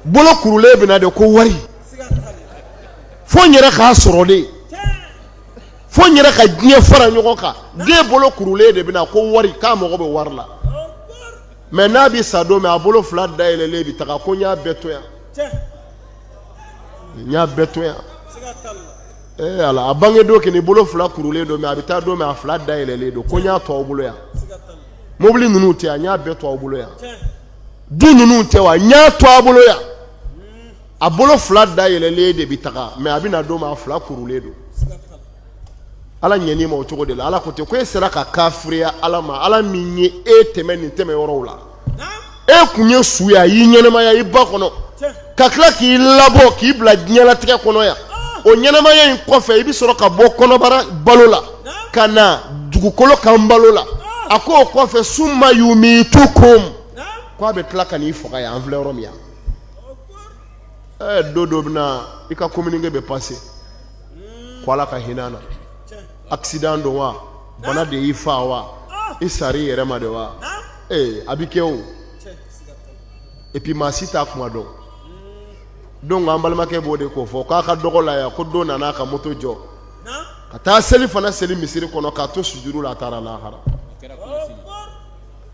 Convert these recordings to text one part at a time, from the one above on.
bolo kurulen bɛ na de ko wari fo n yɛrɛ k'a sɔrɔ de fo n yɛrɛ ka diɲɛ fara ɲɔgɔn kan den bolo kurulen de bɛ na ko wari k'a mago bɛ wari la mɛ n'a bɛ sa don min a bolo fila da yɛlɛlen bɛ taga ko n y'a bɛɛ to yan n y'a bɛɛ to yan ee ala a bange don k'i bolo fila kurulen don mɛ a bɛ taa don min a fila da yɛlɛlen don ko n y'a to aw bolo yan mobili ninnu tɛ wa n y'a bɛɛ to aw bolo yan du ninnu tɛ wa n y'a to aw bolo yan a bolo fila da yɛlɛlen de bɛ taga mɛ a bɛ na don min a fila kurulen don ala ɲɛni ma o cogo de la ala ko ten ko e sera ka kafiriya ala ma ala min ye e tɛmɛ nin tɛmɛ yɔrɔw la e kun ye su ye a y'i ɲɛnamaya i ba kɔnɔ ka tila k'i labɔ k'i bila diɲɛlatigɛ kɔnɔ yan o ɲɛnamaya in kɔfɛ i bɛ sɔrɔ ka bɔ kɔnɔbara balo la ka na dugukolo kan balo la a ko o kɔfɛ summa yumitukum ko a bɛ tila ka n'i faga yan an filɛ yɔrɔ min yan ɛɛ don dɔ bɛ na i ka communiqué bɛ passé ko Ala ka hinɛ an na accident don wa bana de y'i faa wa i sara i yɛrɛ ma de wa ee a bɛ kɛ o. epi maa si t'a kuma dɔn donc an balimakɛ b'o de ko fɔ k'a ka dɔgɔ la yan ko dɔ nana ka moto jɔ ka taa selifana seli misiri kɔnɔ k'a to sujudu la a taara lahara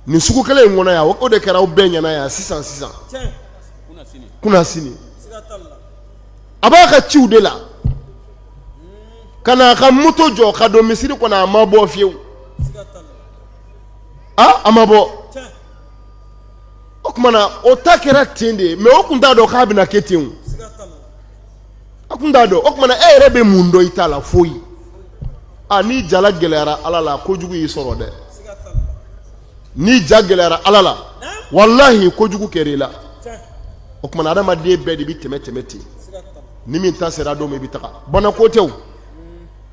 nin sugu kelen in kɔnɔ yan o de kɛra aw bɛɛ ɲɛna yan sisan sisan kunasini a b'a ka ciw de la ka na a ka moto jɔ ka don misiri kɔnɔ a ma bɔ fiyewu a a ma bɔ o kuma na o ta kɛra ten de mɛ o kun t'a dɔn k'a bɛna kɛ ten o kun t'a dɔn o kuma na e yɛrɛ bɛ mun dɔn i ta la foyi a n'i ja la gɛlɛyara ala la kojugu y'i sɔrɔ dɛ n'i ja gɛlɛyara ala la walahi kojugu kɛra i la o kuma na adamaden bɛɛ de bɛ tɛmɛ tɛmɛ ten ni min ta sera don min i bɛ taa bana ko tɛ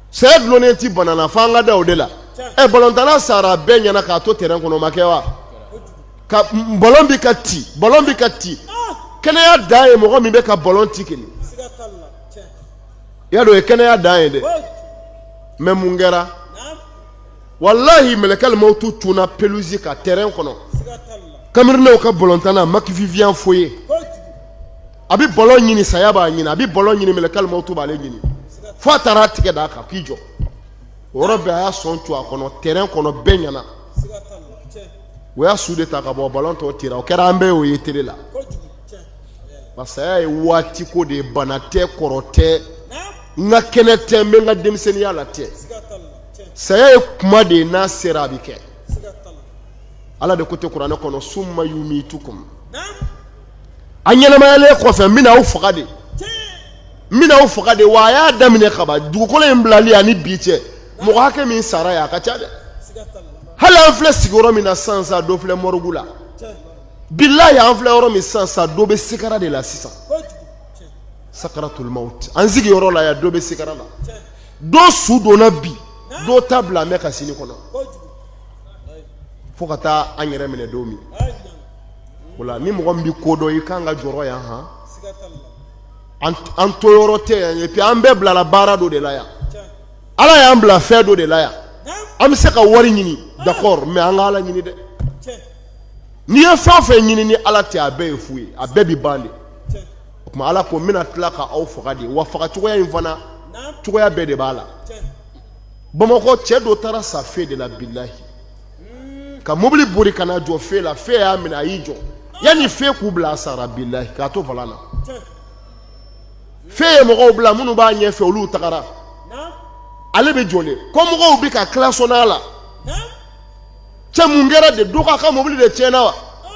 Saya dulonnen tɛ bana na fo an ka da o de la, ɛ ballontanna sara bɛɛ ɲɛna k'a to terrain kɔnɔ o ma kɛ wa? ka ballon bɛ ka ci ballon bɛ ka ci kɛnɛya dan ye mɔgɔ min bɛ ka ballon ci kɛ, siga t'a la, tiɲɛ, i y'a dɔn o ye kɛnɛya dan ye dɛ, foyi, mais mun kɛra? naamu, walahi mɛlɛkɛl mawutu cunna pelouse kan terrain kɔnɔ, siga t'a la, Camerounaisw ka ballontanna Marc-Vivien Foé kojugu a bɛ balon ɲini saya b'a ɲini a bɛ balon ɲini mɛlɛkɛl mawutu b'ale ɲini fo a taara a tigɛ d'a kan k'i jɔ o yɔrɔ bɛɛ a y'a sɔn tu a kɔnɔ tɛrɛn kɔnɔ bɛɛ ɲɛna o y'a su de ta ka bɔ balon tɔ tira o kɛra an bɛɛ y'o ye tele la parce que saya ye waati ko de ye bana tɛ kɔrɔ tɛ n ka kɛnɛ tɛ n bɛ n ka denmisɛnninya la tɛ saya ye kuma de ye n'a sera a bɛ kɛ ala de ko ten kuranɛ kɔnɔ summa yumitukum a ɲɛnamayalen kɔfɛ n bɛna aw faga de n bɛna aw faga de wa a y'a daminɛ kaba dugukolo in bilali ani bi cɛ mɔgɔ hakɛ min sara yan a ka ca dɛ hali an filɛ sigiyɔrɔ min na sisan sa dɔ filɛ mɔrigu la bilayi an filɛ yɔrɔ min sisan sa dɔ bɛ sigara de la sisan sakaratul mawt an sigiyɔrɔ la yan dɔ bɛ sigara la dɔ su donna bi dɔ ta bila an bɛ ka sini kɔnɔ fo ka taa an yɛrɛ minɛ don min wala ni mɔgɔ min bɛ ko dɔn i kan ka jɔrɔ yan ha an to yɔrɔ tɛ yan epi an bɛɛ bilala baara dɔ de la yan ala y'an bila fɛn dɔ de la yan an bɛ se ka wari ɲini dakɔrɔ mɛ an ka ala ɲini dɛ n'i ye fɛn o fɛn ɲini ni ala tɛ a bɛɛ ye fu ye a bɛɛ bɛ ban de o tuma ala ko n bɛna tila ka aw faga de wa faga cogoya in fana cogoya bɛɛ de b'a la bamakɔ cɛ dɔ taara sa fe de la bilayi ka mobili bori ka na jɔ fe la fe y'a minɛ a y'i jɔ yanni fe k'u bila a sara bilahi k'a to volan na fe ye mɔgɔw bila minnu b'a ɲɛfɛ olu tagara ale bɛ jɔlen kɔ mɔgɔw bɛ ka kilasɔni a la cɛ mun kɛra de dɔ k'a ka mobili de tiɲɛna wa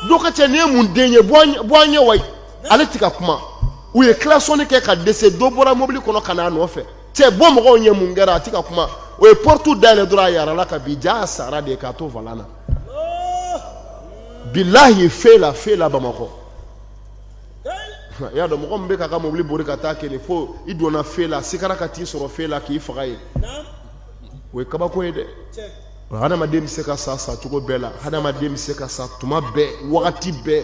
dɔ ko cɛ nin ye mun den ye bɔ an ɲɛ wa ale ti ka kuma u ye kilasɔni kɛ ka dɛsɛ dɔ bɔra mobili kɔnɔ ka n'a nɔfɛ cɛ bɔ mɔgɔw ɲɛ mun kɛra a ti ka kuma o ye porte dayɛlɛ dɔrɔn a yarala ka bin jaa a sara de k'a to volan na bilahi fe la fe la bamakɔ i y'a dɔn mɔgɔ min bɛ k'a ka mobili bori ka taa kɛ nin fo i donna fe la sikara ka t'i sɔrɔ fe la k'i faga yen o ye kabako ye dɛ hadamaden bɛ se ka sa sa cogo bɛɛ la hadamaden bɛ se ka sa tuma bɛɛ wagati bɛɛ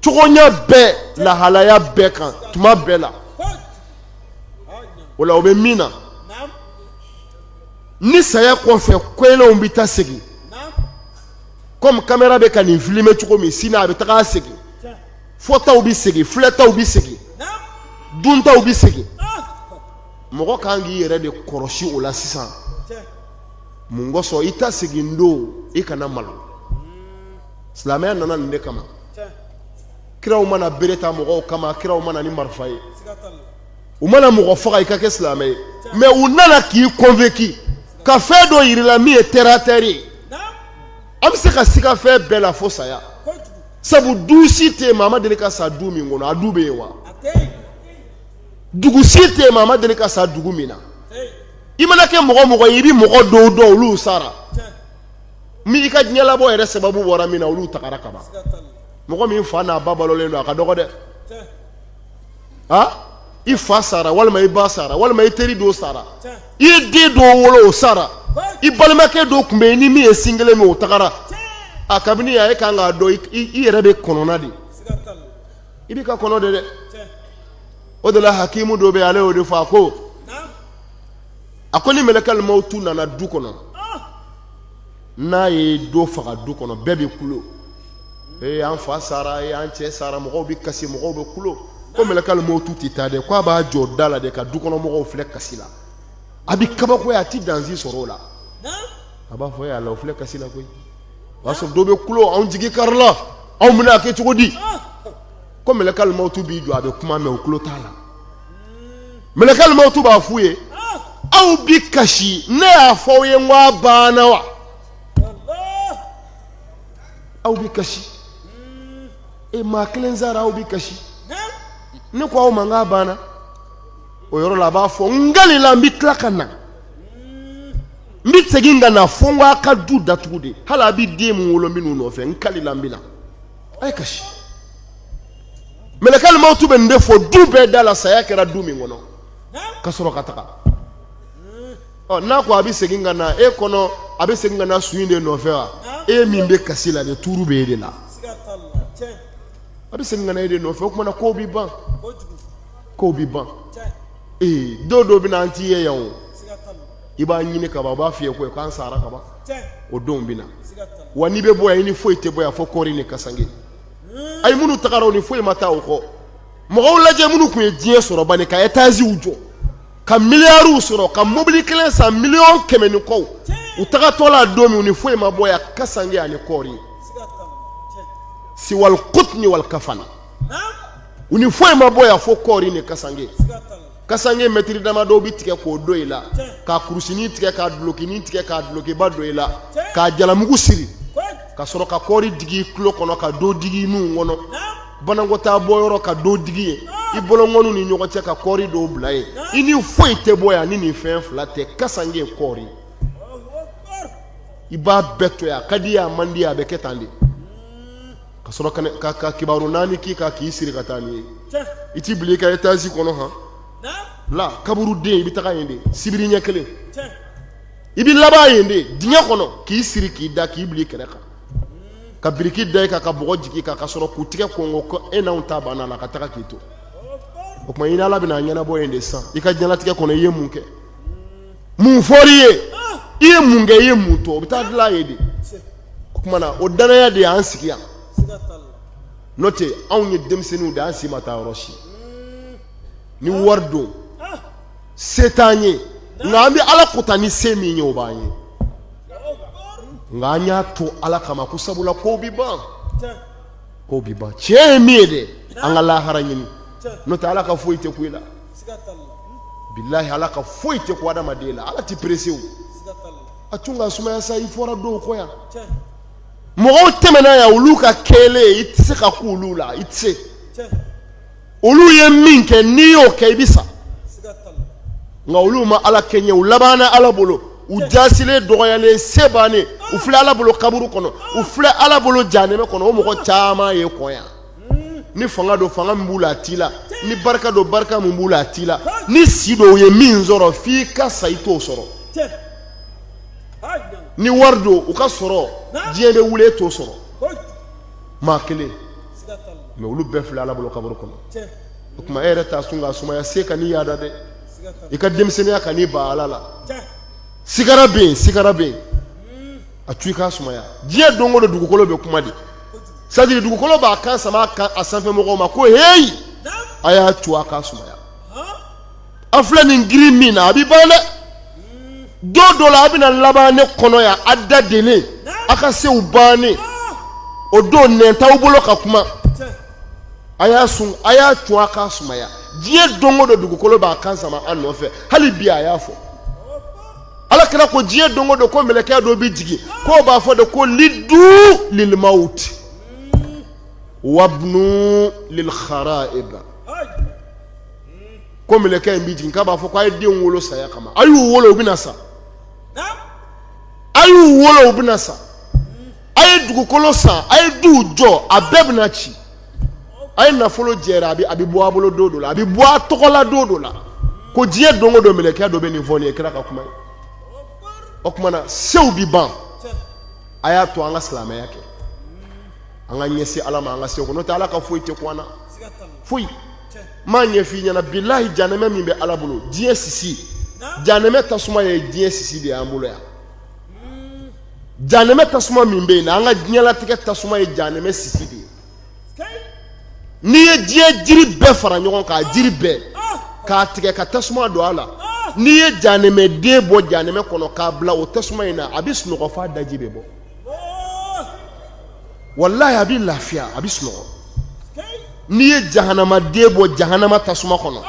cogoya bɛɛ lahalaya bɛɛ kan tuma bɛɛ la o la o bɛ min na ni saya kɔfɛ ko kɛlenw bɛ taa segin kɔmi kamera bɛ ka nin filime cogo min sini a bɛ taga segin fɔtaw bɛ segin filɛtaw bɛ segin duntaw bɛ segin mɔgɔ kan k'i yɛrɛ de kɔlɔsi o la sisan mun kosɔn i ta segin don i kana malo silamɛya nana nin de kama kiraw ma na bere ta mɔgɔw kama kiraw ma na ni marifa ye u ma na mɔgɔ faga i ka kɛ silamɛ ye mɛ u nana k'i kɔnvɛnki ka fɛn dɔ jir'i la min ye tɛratɛri ye an bɛ se ka siga fɛn bɛɛ la fo saya sabu du si tɛ yen maa ma deli ka sa du min kɔnɔ a du bɛ yen wa dugu si tɛ yen maa ma deli ka sa dugu min na i mana kɛ mɔgɔ mɔgɔ ye i bɛ mɔgɔ dɔw dɔn olu sara min i ka diɲɛlabɔ yɛrɛ sababu bɔra min na olu tagara kaban mɔgɔ min fa n'a ba balolen don a ka dɔgɔ dɛ a i fa sara walima i ba sara walima i teri dɔ sara i ye den dɔw wolo o sara i balimakɛ dɔw tun bɛ yen i ni min ye sin kelen min o tagara a kabini a ye kan k'a dɔn i yɛrɛ bɛ kɔnɔna de i b'i ka kɔnɔ de dɛ o de la hakimu dɔ bɛ ale y'o de fɔ a ko a ko ni mɛlɛkɛlimawutu nana du kɔnɔ n'a ye dɔ faga du kɔnɔ bɛɛ bɛ kulo ee an fa sara e an cɛ sara mɔgɔw bɛ kasi mɔgɔw bɛ kulo ko mɛlɛkɛlimawutu tɛ taa dɛ k'a b'a jɔ da la de ka du kɔnɔ mɔgɔw filɛ kasi la a bɛ kabakoya a tɛ danzi sɔrɔ o la a b'a fɔ e yala o filɛ kasi la koyi o y'a sɔrɔ dɔ bɛ kulo anw jigi karila anw bɛna a kɛ cogo di ko mɛlɛkɛlimawutu b'i jɔ a bɛ kuma mɛn o tulo t'a la mɛlɛkɛlimawutu b'a f'u ye aw bi kasi ne y'a fɔ aw ye n ko a banna wa aw bi kasi e maa kelen sara aw bi kasi ne ko aw ma n k'a banna o yɔrɔ la a b'a fɔ n kalila n bɛ tila ka na n bɛ segin ka na fo n k'a ka du datugu de hali a bɛ den min wolo n bɛ n'u nɔfɛ n kalila n bɛ na a ye kasi mɛlɛkɛlimawutu bɛ nin de fɔ du bɛɛ da la saya kɛra du min kɔnɔ ka sɔrɔ ka taga ɔ n'a ko a bɛ segin ka na e kɔnɔ a bɛ segin ka na su in de nɔfɛ wa e min bɛ kasi la de tuuru bɛ e de la a bɛ segin ka na e de nɔfɛ o tuma na kow bɛ ban kow bɛ ban ee don dɔ bɛ na an t'i ye yan o i b'a ɲini ka ban u b'a f'i ye ko k'an sara kaban o don bɛ na wa n'i bɛ bɔ yan i ni foyi tɛ bɔ yan fo kɔɔri ni kasange hmm. ayi minnu tagara u ni foyi ma taa o kɔ mɔgɔw lajɛ minnu tun ye diɲɛ sɔrɔ bani ka etaziw jɔ ka miliyariw sɔrɔ ka mobili kelen san miliyɔn kɛmɛ ni kɔ u tagatɔ la don min u ni foyi ma bɔ yan kasange ani kɔɔri siwal kutni wal kafana u ni foyi ma bɔ yan fo kɔɔri ni kasange kasanke mɛtiri dama dɔw bɛ tigɛ k'o don i la ka kurusinin tigɛ ka dulokinin tigɛ ka dulokiba don i la ka jalamugu siri ka sɔrɔ ka kɔɔri digi i tulo kɔnɔ ka dɔ digi i nun kɔnɔ banakɔtaa bɔyɔrɔ ka dɔ digi yen i bolonkɔniw ni ɲɔgɔn cɛ ka kɔɔri dɔw bila yen i ni foyi tɛ bɔ yan ni nin fɛn fila tɛ kasanke ye kɔɔri i b'a bɛɛ to yan a ka di i ye a man di i ye a bɛ kɛ tan de ka sɔrɔ ka kabaru naani k'i kan k'i siri ka taa n'i ye u t'i bila i ka etazi kɔnɔ han la kaburudo i bɛ taga yen de sibiri ɲɛ kelen i bɛ laban yen de dingɛ kɔnɔ k'i siri k'i da k'i bila i kɛrɛ kan ka biriki da i kan ka bɔgɔ jigin i kan ka sɔrɔ k'u tigɛ kɔngɔn ko e n'anw ta banna la ka taga k'i to o tuma i ni ala bɛna a ɲɛnabɔ yen de san i ka diɲɛlatigɛ kɔnɔ i ye mun kɛ mun fɔr'i ye i ye mun kɛ i ye mun to o bɛ taa dilan yen de o tuma na o danaya de y'an sigi yan n'o tɛ anw ye denmisɛnninw de an si ma taa yɔrɔ si ni wari don se t'an ye nka an bɛ ala kota ni se min ye o b'an ye nka an y'a to ala kama ko sabula kow bɛ ban kow bɛ ban tiɲɛ ye min ye dɛ an ka lahara ɲini n'o tɛ ala ka foyi tɛ ku i la bilahi ala ka foyi tɛ ku adamaden la ala tɛ perese o a tun ka sumaya sa i fɔra dɔw kɔ yan mɔgɔw tɛmɛna yan olu ka kɛlen i tɛ se ka ku olu la i tɛ se olu ye min kɛ n'i y'o kɛ i bɛ sa nka olu ma ala kɛɲɛ u labanna ala bolo u jasilen dɔgɔyalen se bannen u filɛ ala bolo kaburu kɔnɔ u filɛ ala bolo janɛmɛ kɔnɔ o mɔgɔ caman ye kɔ yan ni fanga don fanga min b'u la a t'i la ni barika don barika min b'u la a t'i la ni si don u ye min sɔrɔ f'i ka sa i t'o sɔrɔ ni wari don u ka sɔrɔ diɲɛ bɛ wuli e t'o sɔrɔ maa kelen mɛ olu bɛɛ filɛ ala bolo kaburu kɔnɔ o tuma e yɛrɛ t'a sun k'a sumaya se kan'i yaada dɛ i ka denmisɛnninya kan'i ban ala la sigara bɛ yen sigara bɛ yen a tu i k'a sumaya diɲɛ don o don dugukolo bɛ kuma de sadiri dugukolo b'a kan sama a kan a sanfɛ mɔgɔw ma ko heyi a y'a tu a k'a sumaya a filɛ nin girin min na a bɛ ban dɛ don dɔ la a bɛna laban ne kɔnɔ yan a da denen a ka sew bannen o don nɛn t'aw bolo ka kuma a y'a sun a y'a tu a k'a sumaya diɲɛ don o don dugukolo b'a kan sama a nɔfɛ hali bi a y'a fɔ ala kira ko diɲɛ don o don ko mɛlɛkɛ dɔ bɛ jigin k'o b'a fɔ de ko lidu lilmawt wabnu lilharaib ko mɛlɛkɛ in bɛ jigin k'a b'a fɔ ko a ye den wolo saya kama a y'u wolo u bɛna sa a y'u wolo u bɛna sa a ye dugukolo san a ye duw jɔ a bɛɛ bɛna ci a ye nafolo jɛra a bɛ bɔ a bolo don dɔ la a bɛ bɔ a tɔgɔ la don dɔ la ko diɲɛ don o don mɛlɛkɛ dɔ bɛ nin fɔ nin ye kira ka kuma ye o tuma na sew bɛ ban a y'a to an ka silamɛya kɛ an ka ɲɛsin ala ma an ka sew kɔnɔ n'o tɛ ala ka foyi tɛ kun an na foyi m'a ɲɛ f'i ɲɛna bilahi janɛmɛ min bɛ ala bolo diɲɛ sisi janɛmɛ tasuma ye diɲɛ sisi de y'an bolo yan janɛmɛ tasuma min bɛ yen na an ka diɲɛlatigɛ tasuma ye janɛmɛ sisi de ye n'i ye diɲɛ jiri bɛɛ fara ɲɔgɔn kan jiri bɛɛ k'a tigɛ ka tasuma don a la n'i ye janɛmɛden bɔ janɛmɛ kɔnɔ k'a bila o tasuma in na a bɛ sunɔgɔ f'a daji bɛ bɔ walayi a bɛ lafiya a bɛ sunɔgɔ n'i ye jahanamaden bɔ jahanama tasuma kɔnɔ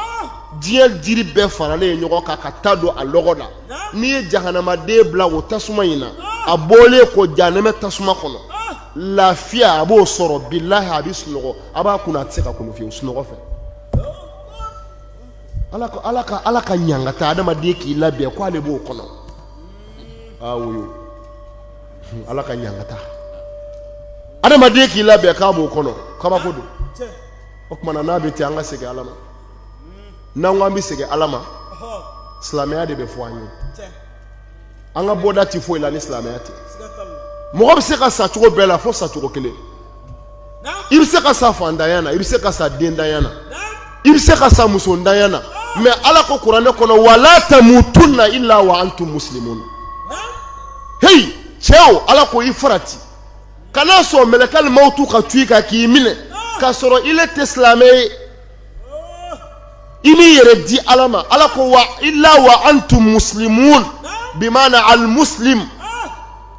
diɲɛ jiri bɛɛ faralen ye ɲɔgɔn kan ka ta don a lɔgɔ la n'i ye jahanamaden bila o tasuma in na a bɔlen kɔ janɛmɛ tasuma kɔnɔ lafiya a b'o sɔrɔ bilayi a bɛ sunɔgɔ a b'a kunun a tɛ se ka kunun fiyewu sunɔgɔ fɛ ala ka ɲangata adamaden k'i labɛn ko ale b'o kɔnɔ ala ka ɲangata adamaden k'i labɛn k'a b'o kɔnɔ kabako don o tuma na n'a bɛ ten an ka segin ala ma n'an ko an bɛ segin ala ma silamɛya de bɛ fɔ an ye an ka bɔda tɛ foyi la ni silamɛya tɛ mɔgɔ bɛ se ka sa cogo bɛɛ la fo sacogo kelen i bɛ se ka sa fantanya na i bɛ se ka sa dentanya na i bɛ se ka sa musotanya na mais ala ko kuranɛ kɔnɔ wala tamutunna illa wa antum muslimun heyi cɛw ala ko i farati kana sɔn mɛlɛkɛl mawtu ka tu i kan k'i minɛ k'a sɔrɔ ile tɛ silamɛ ye i m'i yɛrɛ di ala ma ala ko wa illa wa antum muslimun bimana al muslim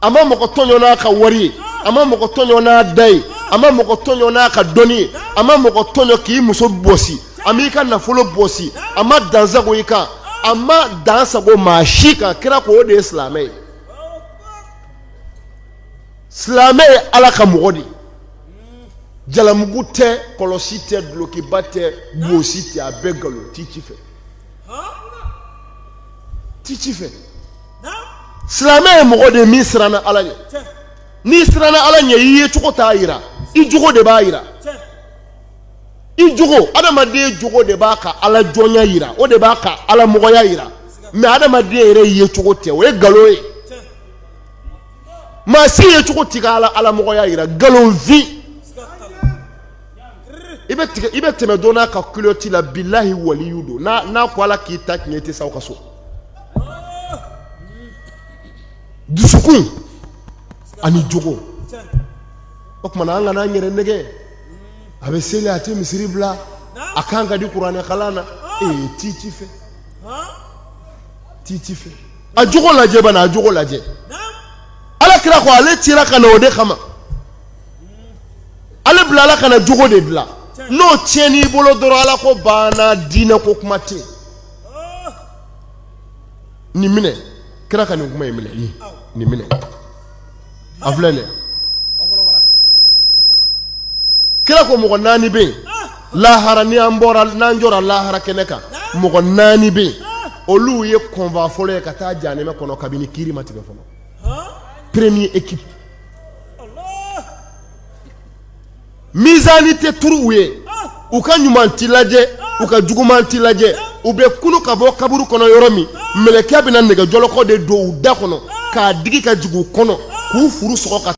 a ma mɔgɔ tɔɲɔ n'a ka wari ye a ma mɔgɔ tɔɲɔ n'a da ye a ma mɔgɔ tɔɲɔ n'a ka dɔnni ye a ma mɔgɔ tɔɲɔ k'i muso bɔsi a m'i ka nafolo bɔsi a ma dansago i kan a ma dansago maa si kan kira ko o de ye silamɛ ye silamɛ ye ala ka mɔgɔ de ye jalamugu tɛ kɔlɔsi tɛ dulokiba tɛ bonsi tɛ a bɛɛ nkalon ti ci fɛ ti ci fɛ silamɛ ye mɔgɔ de min siranna ala ɲɛ n'i siranna ala ɲɛ i yecogo t'a yira i jogo de b'a yira i jogo adamaden jogo de b'a ka ala jɔnya yira o de b'a ka ala mɔgɔya yira mais adamaden yɛrɛ yecogo tɛ o ye nkalon ye maa si yecogo t'i ka ala ala mɔgɔya yira nkalonfin i bɛ tigɛ i bɛ tɛmɛ dɔ n'a ka kuloti la bilahi waliyu don n'a n'a ko ala k'i ta tiɲɛ i tɛ se aw ka so dusukun ani jogo o tuma na an kana an yɛrɛ nɛgɛn a bɛ seli a tɛ misiri bila a kan ka di kuranɛkalan na ee ti ci fɛ ti ci fɛ a jogo lajɛ bana a jogo lajɛ ala kira ko ale cira ka na o de kama ale bilala ka na jogo de dila n'o tiɲɛn'i bolo dɔrɔn ala ko banna diinɛ ko kuma tɛ nin minɛ kira ka nin kuma in minɛ nin minɛ a filɛ dɛ kira ko mɔgɔ naani bɛ yen lahara ni an bɔra n'an jɔra lahara kɛnɛ kan mɔgɔ naani bɛ yen olu ye convoi fɔlɔ ye ka taa janɛmɛ kɔnɔ kabini kiiri ma tigɛ fɔlɔ premier équipe Mizani tɛ turu u ye u ka ɲuman tɛ lajɛ u ka juguman tɛ lajɛ u bɛ kunu ka bɔ kaburu kɔnɔ yɔrɔ min mɛlɛkɛ bɛna nɛgɛjɔlɔkɔ de don u da kɔnɔ k'a digi ka jigin u kɔnɔ k'u furu sɔgɔ